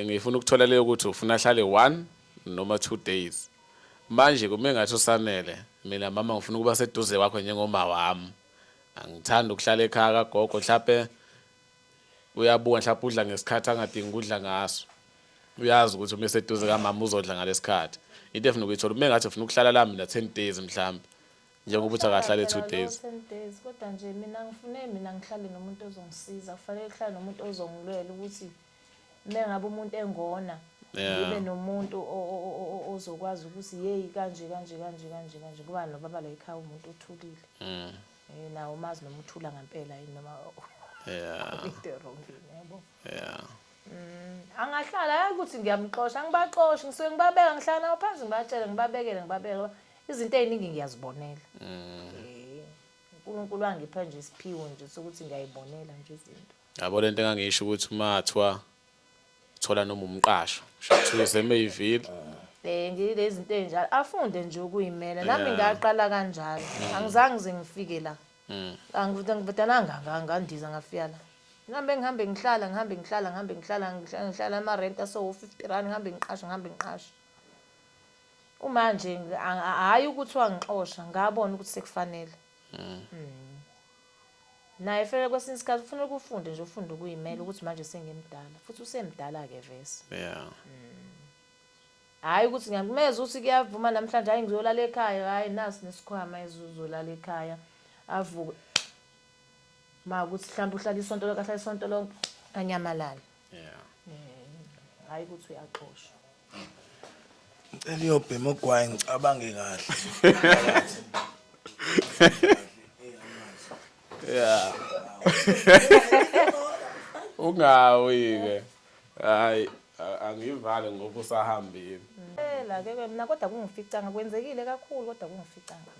Ngifuna ukuthola leyo ukuthi ufuna ahlale one noma two days. Manje kume ngathi uSanele, mina mama ngifuna ukuba seduze kwakho njengomawam. Angithandi ukuhlala ekhaya kagogo mhlampe uyabuka mhlampe udla ngesikhathi angadingi ukudla ngaso. Uyazi ukuthi uma eseduze kamama uzodla ngalesikhathi. Into efuna ukuyithola kume ngathi ufuna ukuhlala la mina 10 days mhlampe. Njengoba uthi akahlale 2 days. 10 days kodwa nje mina ngifune mina ngihlale nomuntu ozongisiza. Kufanele kuhlale nomuntu ozongilwela ukuthi mengabe umuntu engona ngibe nomuntu ozokwazi ukuthi yeyi kanje kanje kanje kanje kanje kuba nobaba la ekhaya umuntu uthulile mm. eh, nawo umazi noma uthula ngampela yini noma yabo mm, angahlala yazi ukuthi ngiyamxosha angibaxoshi ngisuke ngibabeka ngihlala nawo phansi ngibatshele ngibabekele ngibabekele izinto ey'ningi ngiyazibonela mm. eh, unkulunkulu angipha nje isiphiwo nje sokuthi ngiyayibonela nje izinto Yabo lento engangiyisho ukuthi uma kuthiwa uthola noma umqasho shuthi uze eMayville Eh ngilezi zinto ezinjalo afunde nje ukuyimela nami ngaqala kanjalo mm. angizange ngize ngifike la mm. angivudananga ngandiza ngafika la ngihambe ngihambe ngihlala ngihambe ngihlala ngihambe ngihlala ngihlala ama rent aso 50 rand ngihambe ngiqasha ngihambe ngiqasha uma nje hayi ukuthi wangixosha ngabona ukuthi sekufanele mm. Naye fanele kwesinye isikhathi ufuna ukufunde nje ufunde ukuyimela ukuthi manje sengimdala futhi usemdala ke vese. Yeah. Mm. Hayi ukuthi ngiyakumeza ukuthi kuyavuma namhlanje hayi ngizolala ekhaya hayi nasi nesikhwama ezuzolala ekhaya avuke. Ma ukuthi mhlawumbe uhlala isonto lonke ahlala isonto lonke anyamalala. yeah eh hayi ukuthi uyaxoshwa ngicela uyobhema ogwayi ngicabange kahle yeah ungawi ke hayi angivale ngoba usahambile phela ke mina kodwa kungificanga kwenzekile kakhulu kodwa kungificanga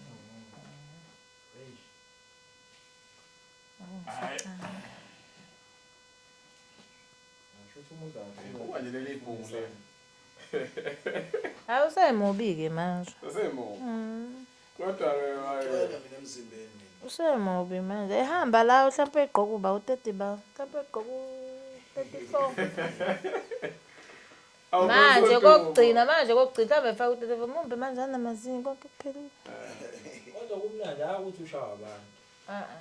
Hayi usemubi-ke manje. Usemubi. Mm. Kodwa ke wayena mina emzimbeni mina. Usemubi manje. Ehamba la mhlawumbe egqoka uba u-30 ba. Mhlawumbe egqoka u-34. Manje kokugcina manje kokugcina mhlawumbe efaka u-34 mumbe manje anamazinyo konke kuphelile. Kodwa kumnandi hayi ukuthi ushawa abantu. Uh-uh.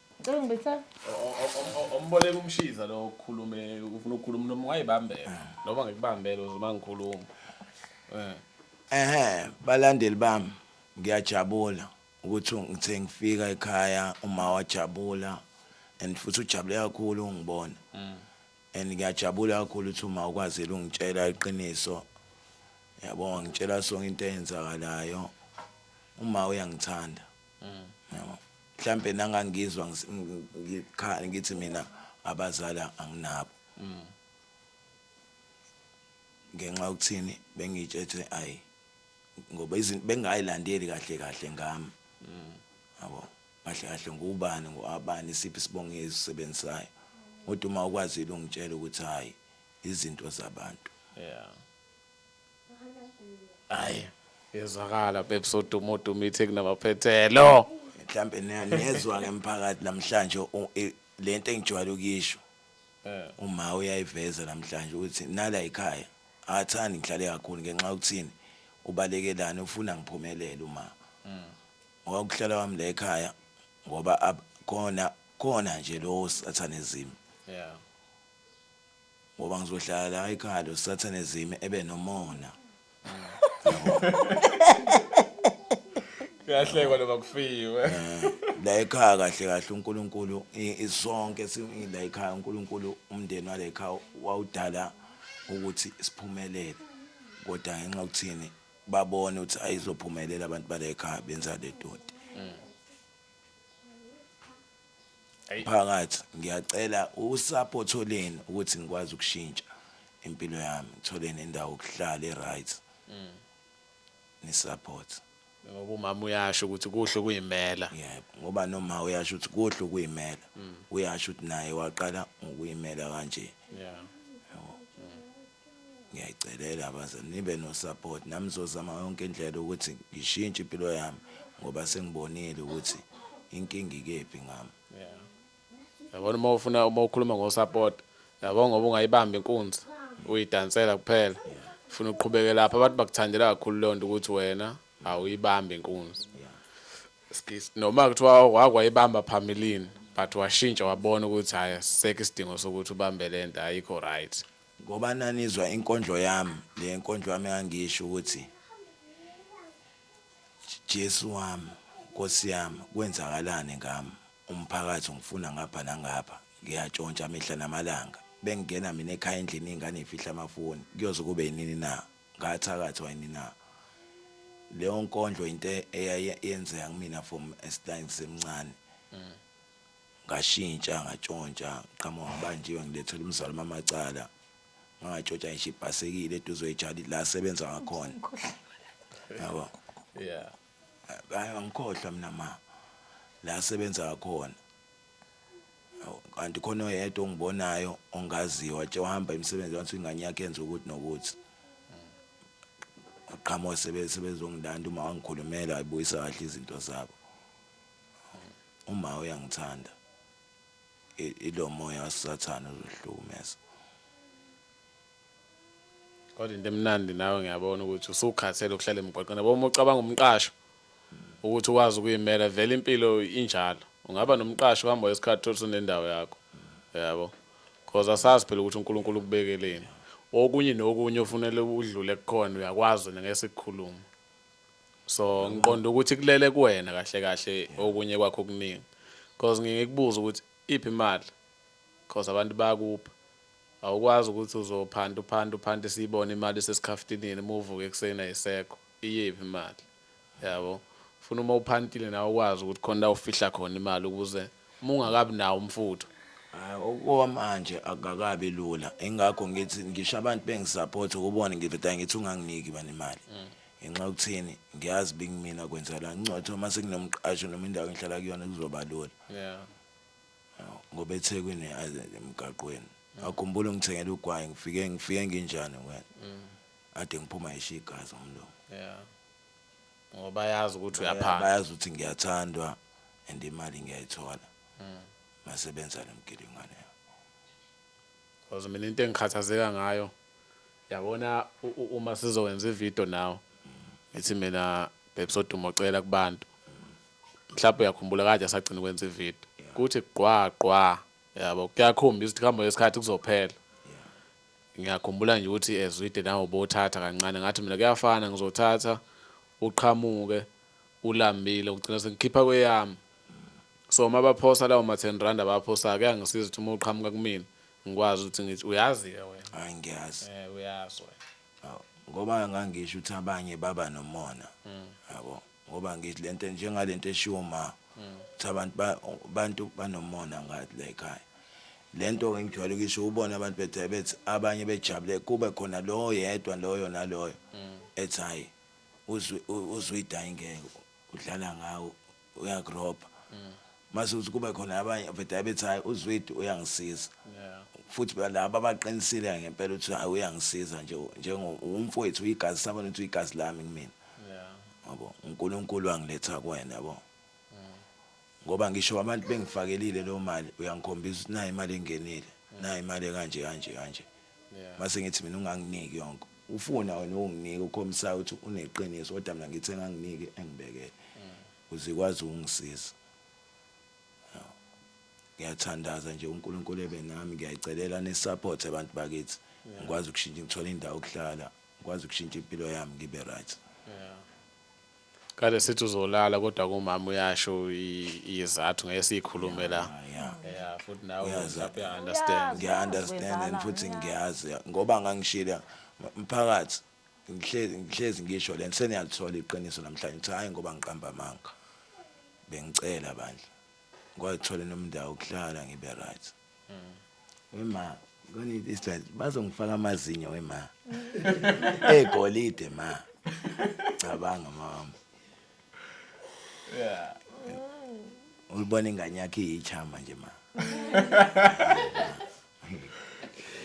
Ngicela ungibetha. Omboleka umshiza lo okhulume ufuna ukukhuluma noma wayibambela. Noma ngikubambele uzuma ngikhuluma. Eh. Ehhe balandeli bami ngiyajabula ukuthi ngithe ngifika ekhaya uma wajabula and futhi ujabule kakhulu ungibona. Mm. And ngiyajabula kakhulu ukuthi uma ukwazile ungitshela iqiniso. Yabo ngitshela sonke into eyenzakalayo. Uma uyangithanda. Yabo. Mhlampe nangangizwa ngis- ng- ngikhala ngithi mina abazali anginabo. Ngenxa yokuthini bengitshetshe ayi ngoba izinto bengayilandeli kahle kahle ngami. Yabo. Kahle kahle ngubani ngoabani isiphi isibongo esisebenzisayo. Kodwa uma ukwazile ungitshela ukuthi hayi izinto zabantu. Yeah. hayi yezwakala bebs oduma oduma ithi kunamaphethelo mhlawumbe niya- niyezwa ngemphakathi namhlanje u- i- le nto engijwayele ukuyisho uma uyayiveza namhlanje ukuthi nala yikhaya akathandi ngihlale kakhulu ngenxa yokuthini ubalekelani ufuna ngiphumelele uma ngoba ukuhlala kwami la ekhaya ngoba ab- khona khona nje lowo sathane ezimi yeah Ngoba ngizohlala la ekhaya lo sathane zime ebe nomona. Kuyahlekwa noma kufiwe. Eh, la ekhaya kahle kahle uNkulunkulu i- isonke si- i- la ekhaya uNkulunkulu umndeni wale ekhaya wawudala ukuthi siphumelele. Kodwa ngenxa yokuthini babone ukuthi ayizophumelela abantu bale ekhaya benza le doti. Mphakathi ngiyacela usupport oleni ukuthi ngikwazi ukushintsha impilo yami ngithole nendawo yokuhlala eright nisupport. Ngoba umama uyasho ukuthi kuhle ukuyimela. Yebo ngoba noma uyasho ukuthi kuhle ukuyimela uyasho ukuthi naye waqala ngokuyimela kanje. Yeah. Ngiyayicelela abazali nibe no-support nami ngizozama yonke indlela ukuthi ngishintshe impilo yami ngoba sengibonile ukuthi inkinga ikephi ngami. Yabona uma ufuna uma ukhuluma ngo-support yabo ngoba ungayibamba inkunzi uyidansela kuphela ufuna uqhubeke lapho abantu bakuthandela kakhulu leyo nto ukuthi wena awuyibambi inkunzi noma kuthiwa wakwayibamba phambilini but washintsha wabona ukuthi hhayi sisekho isidingo sokuthi ubambe le nto ayikho right Ngoba nanizwa inkondlo yami, le nkondlo yami engangisho ukuthi Jesu wami, Nkosi yami, kwenzakalani ngami? Umphakathi ungifuna ngapha nangapha, ngiyatshontsha mihla namalanga. Bengingena mina ekhaya endlini iy'ngane y'fihla amafoni, kuyoze kube yinini na? Ngathakathwa yini na? Leyo nkondlo into eyaye yenzeka kumina from as ngisemncane. ngashintsha ngatshontsha ngiqhamuka ngibanjiwe ngilethela umzali mamacala ngangatshontsha ngisho ibhasekile eduze kwejali la sebenza ngakhona yabo yeah bayo ngikhohlwa mina ma la sebenza ngakhona kanti khona oyedwa ongibonayo ongaziyo watshe uhamba imisebenzi wathi ingane yakhe yenza ukuthi nokuthi uqhamuka sebezongilanda uma wangikhulumela ayibuyisa kahle izinto zabo Uma uyangithanda ilo moya wasathane uzohlukumeza. Kodwa into emnandi nawe ngiyabona ukuthi usukhathele ukuhlala emgwaqeni. Yabo uma ucabanga umqasho ukuthi ukwazi ukuyimela vele impilo injalo. Ungaba nomqasho uhamba isikhathi thola sunendawo yakho. Yabo. Because asazi phela ukuthi uNkulunkulu ukubekeleni. Okunye nokunye ofunele udlule kukhona uyakwazi ngeke sikukhulume. so ngiqonda ukuthi kulele kuwena kahle kahle okunye kwakho okuningi because ngingikubuza ukuthi iphi imali because abantu bayakupha awukwazi ukuthi uzophanda uphanda uphanda siyibone imali sesikhaftinini uma uvuke ekuseni ayisekho iyephi imali yabo funa uma uphantile nawe ukwazi ukuthi khona la ufihla khona imali ukuze uma ungakabi nawo umfutho Hayi okwamanje akakabi lula. Ingakho ngithi ngisho abantu bengisupport ukubona ngiveda ngithi unganginiki bani imali. Mm. Ngenxa yokuthini ngiyazi bingimina kwenzela incotho uma sekunomqasho noma indawo engihlala kuyona kuzoba lula. Yeah. Ngoba eThekwini emgaqweni. Mm. Akhumbula ngithengela ugwayi ngifike ngifike nginjani wena. Mm. Ade ngiphuma ishigazi umlomo. Yeah. ngoba bayazi ukuthi uyaphanga bayazi ukuthi ngiyathandwa and imali ngiyayithola masebenza nomgilingwane because mina into engikhathazeka ngayo yabona uma sizowenza ivideo nawo ngithi mina bebsodumo ocela kubantu mhlawumbe uyakhumbula kade asagcina ukwenza ivideo kuthi qwa qwa yabo kuyakhombisa ukuthi kuhamba ngesikhathi kuzophela Ngiyakhumbula nje ukuthi Zwide nawe ubothatha kancane ngathi mina kuyafana ngizothatha uqhamuke ulambile ugcina sengikhipha kweyami so uma baphosa lawo ma-ten rand abaphosayo kuyangisiza ukuthi uma uqhamuka kumina ngikwazi ukuthi ngithi uyazi-ke wena hayi ngiyazi um uyazi wena ngoba ngangisho ukuthi abanye baba nomona hmm. yabo Ngoba ngithi le nto njengale nto eshiwo ma ukuthi abantu abantu banomona ngathi la ekhaya. Le nto-ke ngijwayele ukuyisho ubone abantu bethi bethi abanye bejabule kube khona lo yedwa loyo naloyo ethi hhayi uzwe uyidayingeke udlala ngawo uyakurobha. Mase uthi kube khona abanye vete abethi hayi uZwidi uyangisiza. Yeah. Futhi phela laba abaqinisile ngempela ukuthi hayi uyangisiza nje njengo umfowethu uyigazi sabona ukuthi uyigazi lami kumina. Yeah. Yabo uNkulunkulu wangiletha kuwena yabo. Ngoba ngisho abantu bengifakelile leyo mali uyangikhombisa ukuthi nayi imali engenile, nayi imali ekanje kanje kanje. Yeah. Mase ngithi mina unganginiki yonke. Ufuna wena ukunginika ukhombisa ukuthi uneqiniso kodwa mina ngithi enganginiki engibekele. Uzikwazi ukungisiza. Hawu. Ngiyathandaza nje uNkulunkulu ebe nami, ngiyayicelela ni support abantu bakithi. Ngikwazi ukushintsha ngithole indawo yokuhlala, ngikwazi ukushintsha impilo yami ngibe right. Yeah. Kade sithi uzolala kodwa kumama uyasho izathu ngeke sikhulume la. Yeah. Yeah, futhi nawe Uyazi. lapho uya understand. Ngiya understand and futhi ngiyazi ngoba ngangishila mphakathi ngihlezi ngihlezi ngisho lento seniyalithola iqiniso namhlanje ngithi hayi ngoba ngiqamba amanga bengicela bandla ngwayithola nomndawo kuhlala ngibe right mm. wema ngone this time bazongifaka amazinyo wema egolide ma cabanga mama yeah ulibona ingane yakhe iyichama nje ma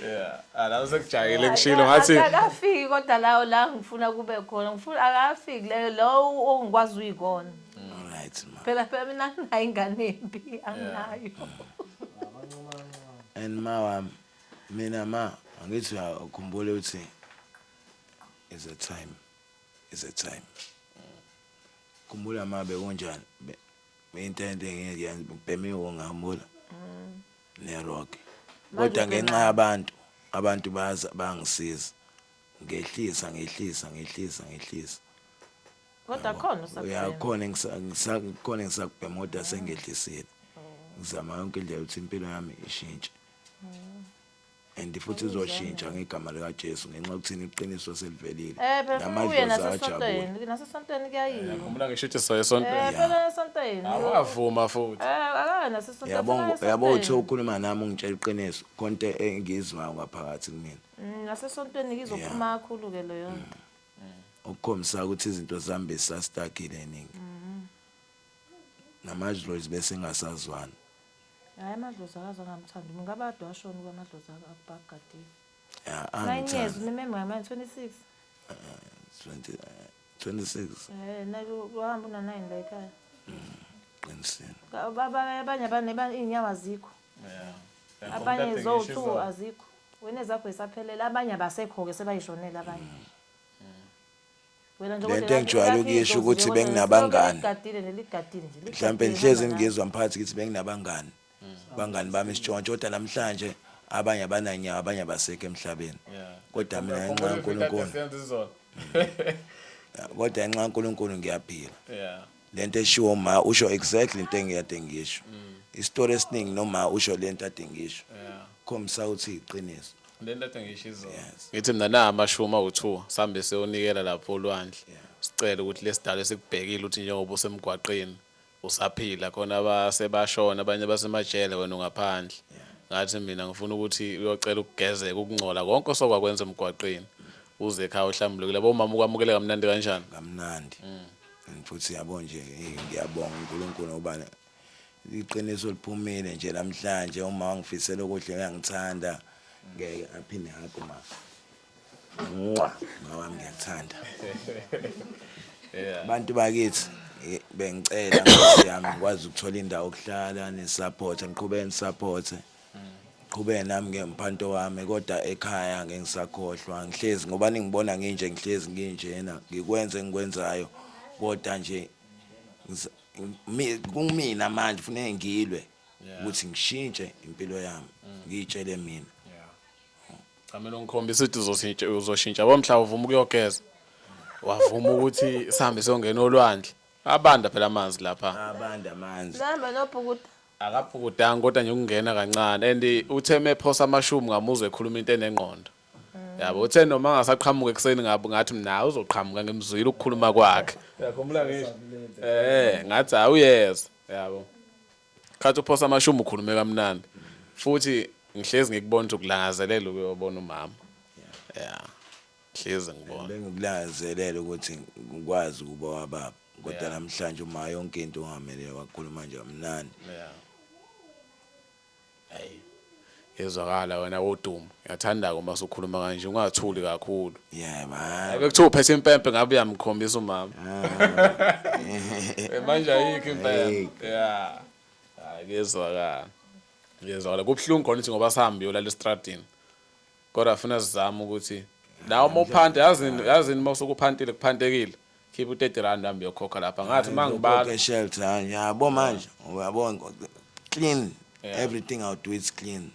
Yeah, ah, la usekujayele kushilo ngathi akafiki kodwa lawo la ngifuna kube khona ngifuna akafiki leyo lowo ongikwazi uyikona Alright ma. phela phela mina nginayo ingane embi anginayo And ma wami mina ma angithi uyakhumbula ukuthi is a time is a time. Khumbula ma bekunjani. Be- Into ento engeke yenze ubhemiwe ngihambula. Nerogi. Kodwa ngenxa yabantu, abantu baza bangisiza. Ngehlisa, ngehlisa, ngehlisa, ngehlisa. Kodwa Yabo. khona usakubhema. Uyakhona engisa- ngisa- kukhona engisakubhema kodwa sengehlisile. Ngizama yonke indlela ukuthi impilo yami ishintshe. and futhi uzoshintsha ngegama likaJesu ngenxa yokuthini iqiniso selivelile Eh phela uye namadlozi ajabule nasesontweni, nasesontweni kuyayiwa. Ngikhumbula ngisho ithi soye Eh esontweni. phela esontweni. Awavuma futhi. Eh akaye nasesontweni. yabo akaye ngo- yabo uthi esontweni. ukhuluma nami ungitshela iqiniso konto engiyizwayo ngaphakathi kumina Mm, Nasesontweni ngizophuma kakhulu ke leyo nto. okukhombisa ukuthi izinto zami besisastakile ningi namadlozi bese ngasazwana Hayi amadlozi akaze angamthanda umuntu ngabe ade washona uba amadlozi akubagadile Ya, nine years angithanda. unimembe ngamane 26 20, eh, 26 um nayo wahamba una-nine la ekhaya qinisile Ka- ba- ba- abanye abane ba- iy'nyawo azikho Yeah. abanye Abhekishe zowu-two izolo. azikho wena ezakho zisaphelele abanye abasekho-ke sebayishonele abanye Wena nje Le kodwa nto engijwayele elakho ukuyisho idlozi ukuthi nje kodwa benginabangani. lihloko eligadile nje ligadile nje ligadile mhlawumbe ngihlezi hamba nalo. ngizwa mphakathi ngithi benginabangani bangani bami isitshontsho kodwa namhlanje abanye abananyawo abanye abasekho emhlabeni kodwa mina ngenxa Ukhumbula izinto ekade kaNkulunkulu senza izolo. kodwa ngenxa kaNkulunkulu ngiyaphila Yeah. lento eshiwo uma usho exactly into engiyade ngisho mm. isitori esiningi noma usho lento ade ngisho khombisa ukuthi iqiniso lento ade ngisho izona ngithi mina na amashuma u2 sambe seyonikela lapho olwandle sicela ukuthi lesidalo esikubhekile ukuthi njengoba usemgwaqeni usaphila khona abasebashona abanye basemajele wena ungaphandle ngathi mina ngifuna ukuthi uyocela ukugezeka ukungcola konke osokwakwenza emgwaqeni uze ekhaya uhlambulukile bomama ukwamukele kamnandi kanjani kamnandi mm. And futhi yabo nje hey, ngiyabonga uNkulunkulu ngoba iqiniso liphumile nje namhlanje uma wangifisela okuhle uyangithanda ngeke aphinde hug ma nqwa mawami ngiyakuthanda Yeah. abantu bakithi eh, bengicela nkosi yami ngikwazi ukuthola indawo okuhlala nisupporte ngiqhubeke nisupporte qhubeke nami ngeke ngiphanto wami kodwa ekhaya ngeke ngisakhohlwa ngihlezi ngoba ningibona nginje ngihlezi nginjena ngikwenze engikwenzayo kodwa nje kumina manje kufuneka ngilwe ukuthi ngishintshe impilo yami ngiyitshele mina Camela ungikhombisa ukuthi uzoshintsha uzoshintsha yabo mhla uvuma ukuyogeza wavuma ukuthi sihambe siyongena olwandle Abanda phela amanzi lapha. Abanda amanzi. Namba nobhukuda. Akaphukudanga kodwa nje ukungena kancane and uthe mephosa amashumi ngamuzwe ekhuluma into enengqondo. Yabo uthe noma angasaqhamuka ekuseni ngabe ngathi mina uzoqhamuka ngimzwile ukukhuluma kwakhe. Uyakhumbula ngisho? Eh, ngathi hayi uyeza. Yabo. Khathi uphosa amashumi ukhulume kamnandi. Futhi ngihlezi ngikubona ukuthi ukulangazelela ukuyobona umama. Yeah. Hlezi ngibona. Bengikulangazelela ukuthi ngikwazi ukuba wababa kodwa yeah. namhlanje uma yonke into ungamele wakhuluma nje amnani yeah. Hey. Yezwakala wena wodumo. Ngiyathanda uma usukhuluma kanje ungathuli kakhulu. Yeah man. Bekuthiwa uphethe impempe ngabe uyamkhombisa umama. Ah. Eh, manje ayikho impempe. Yeah. Hayi kezwakala. Kezwakala kubuhlungu khona ukuthi ngoba sihambe yolala estradini. Kodwa funa sizame ukuthi nawe uma uphanta yazi yazi uma usukuphantile kuphantekile khipha u30 rand hambe yokhokha lapha ngathi mangibala Ke shelter hayi, yabo manje uyabo ngo- clean Yeah. Mm. everything I'll do it's clean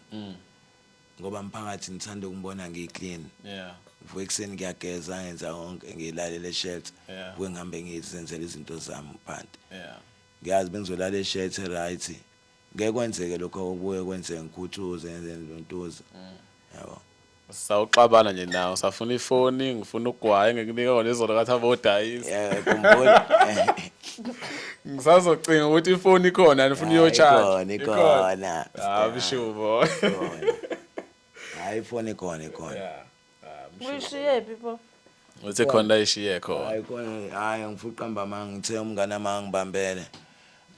ngoba mphakathi ngithanda ukungibona ngiclean yeah vuke ekuseni ngiyageza ngenza konke ngilalele eshelter Yeah. vuke ngihambe ngizenzela izinto zami phanti yeah ngiyazi bengizolala eshelter right Ngeke kwenzeke lokho okuye kwenzeke ngikhuthuze ngenze ntontoza. Yabo. Sawuxabana nje nawe safuna ifoni ngifuna ugwaye ngikunika kona izolo kathi abodayisa. Yeah, khumbula. Ngisazocinga ukuthi ifoni ikhona nifuna Hayi, uyotshaja. ikhona, ikhona. Hayi shubo. Ikhona. Hayi ifoni ikhona ikhona. Yeah. Ah, Uyishiyephi pho? Uthe khona la ishiye khona. hayi kona hayi angifuqa mbama ngithe umngane wami angibambele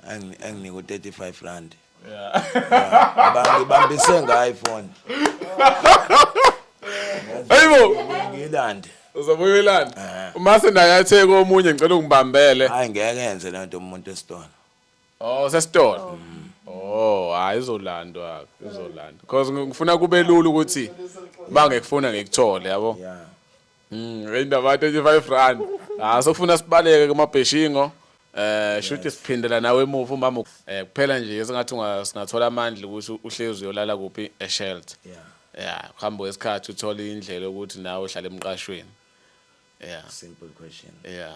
Angi- anginike u-35 rand Ngiba- ngibambise ngayo ifoni Hayibo, ngiyilande uzobuya uyilanda. Eh. Uma sendayatheka omunye ngicela ungibambele. hayi ngeke yenze le nto umuntu esitolo Oh sesitolo. Oh hayi izolandwa izolandwa. Cause ngifuna kube lula ukuthi bangekufuna ngikuthole yabo. Yeah. Mm indaba 25 rand. Ah sokufuna sibaleke kuma beshingo. Eh shuthi siphindela nawe emuva umama eh kuphela nje esingathi unga- singathola amandla ukuthi uhlezi uyolala kuphi e shelter. Yeah. Yeah, kuhamba kwesikhathi uthola indlela ukuthi nawe uhlale emqashweni. Yeah. Simple question. Yeah.